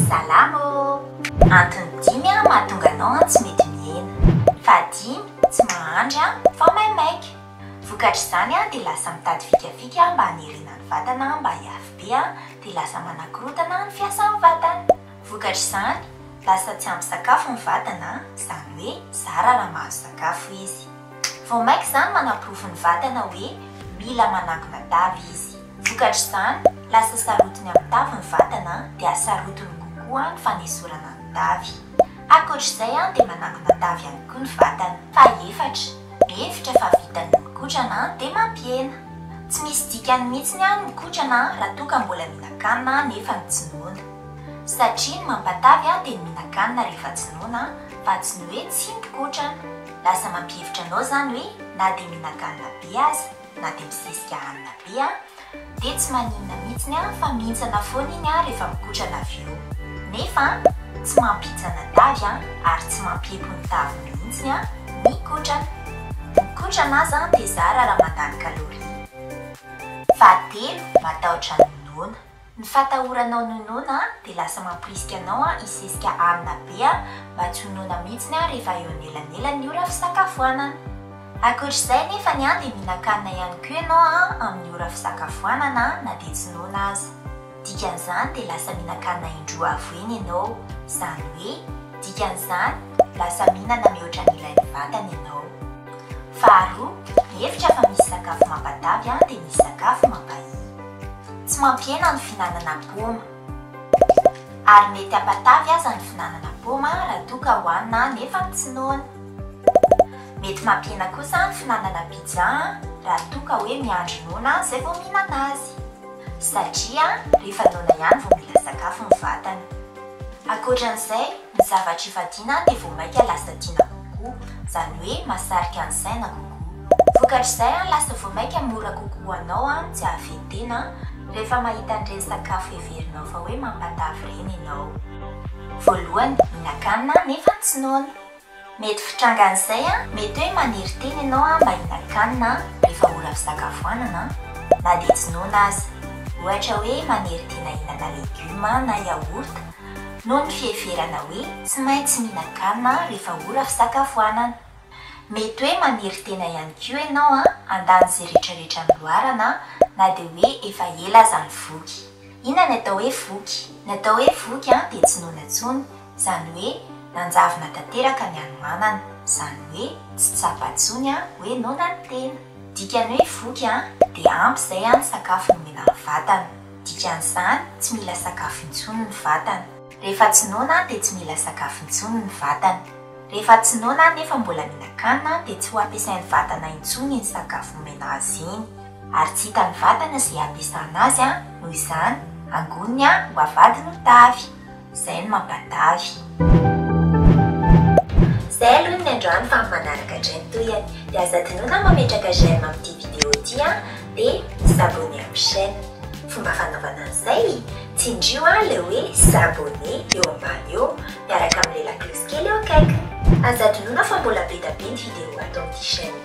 Salama ô! Antony dimy an mahatonga anao an tsy mety mihena. Fahadimy, tsy mahandry an fa maimaika. Vokatr'izany an dia lasa mitady fikafika mba hanerena ny vatana an mba hiafy be an dia lasa manakorotana ny fiasan'ny vatana. Vokatr'izany, lasa tsy ampy sakafo ny vatana an, izany hoe zara raha mahazo sakafo izy. Vao mainka izany manaporofo ny vatana hoe mila manakona tavy izy. Vokatr'izany, lasa sarotiny amin'ny tavy ny vatana dia sarotiny kokoa ny fanesorana ny tavy. Ankoatr'izay dia manakona tavy ihany koa ny vatana. Fahefatra, mihevitra fa vita ny mikotrana dia mampihena. Tsy misy dikany mihitsy ny mikotrana raha toa ka mbola mihinan-kanina nefa ny tsy noana. Satria ny mampatavy dia ny mihinan-kanina rehefa tsy noana fa tsy ny hoe tsy mikotrana. Lasa mampihevitra anao zany hoe na dia mihinan-kanina be aza na dia misesika hanina be an, dia tsy maninona mihitsiny an fa mihintsana foana iny an rehefa mikotrana avy eo. Nefa an, tsy mampihintsana tavy an ary tsy mampiempo ny tavy mihitsiny an ny kotrana. Ny kotrana aza an dia zara raha mandany calorie. Fahatelo, matahotra ny noana. Ny fatahoranao ny ho noana dia lasa mamporisika anao hisesika amina be mba tsy ho noana mihitsy rehefa eo anelanelan'ny ora fisakafoanana. Ankoatra izay nefa ny an dia mihinan-kanina ihany koa ianao amin'ny ora fisakafoanana na dia tsy noana aza. Dikan'izany dia lasa mihinan-kanina indroa avo eny ianao. Izany hoe dikan'izany lasa mihinana mihoatra ny ilain'ny vatana ianao. Faharoa, mihevitra fa misy sakafo mampatavy dia misy sakafo mampahia. Tsy mampihena ny fihinanana paoma. Ary mety hampatavy aza ny fihinanana paoma raha toa ka hohanina nefa tsy noana. Mety mampihena kosa ny fihinanana pizza raha toa ka hoe miandry noana izay vao mihinana azy. Satria rehefa noana ihany vao mila sakafo ny vatana. Ankoatran'izay, Ny zavatra ifadiana dia vao maika lasa tiana kokoa, izany hoe mahasarika ny saina kokoa. Vokatr'izay, lasa vao maika mora kokoa ho anao ny tsy hahaven-tena, rehefa mahita an'ireny sakafo heverinao fa hoe mampatavy ireny ianao. Voalohany, mihinan-kanina nefa tsy noana. Mety fitrangan'izay an, mety hoe maniry tena ianao an mba hinakanina rehefa ora fisakafoanana an, na dia tsy noana aza. Ohatra hoe manery tena hihinana legioma na yaourt noho ny fiheverana hoe tsy maintsy mihinan-kanina rehefa ora fisakafoanana. Mety hoe maniry tena ihany koa ianao an handany izay rehetra rehetra noloarana na dia hoe efa ela aza ny voky. Inona ny atao hoe voky? Ny atao hoe voky an dia tsy noana intsony Izany hoe nanjavona tanteraka ny hanomanana. Izany hoe tsy tsapa intsony an hoe noana ny tena. Dikany hoe voky an dia ampy izay an ny sakafo nomena ny vatana. Dikan'izany tsy mila sakafo intsony ny vatana. Rehefa tsy noana an dia tsy mila sakafo intsony ny vatana. Rehefa tsy noana an nefa mbola mihinan-kanina an dia tsy ho ampiasain'ny vatana intsony iny sakafo nomena azy iny. Ary tsy hitan'ny vatana izay hampiasana azy an, noho izany, angoniny an ho avadiny ho tavy. Zay no mampatavy. Zay aloha ny niandrano fa amin'ny manaraka dray ny tohiny. De aza adinoina ny mametraka j'aime amin'ity vidéo ty an! De s'abonner amin'ny chaîne. Fomba fanaovana an'izay? Tsindrio an le hoe s'abonner eo ambany eo miaraka amin'ilay laklosy kely eo akaikiny. Aza adinoina fa mbola be da be ny vidéo ato amin'ity chaîne ity.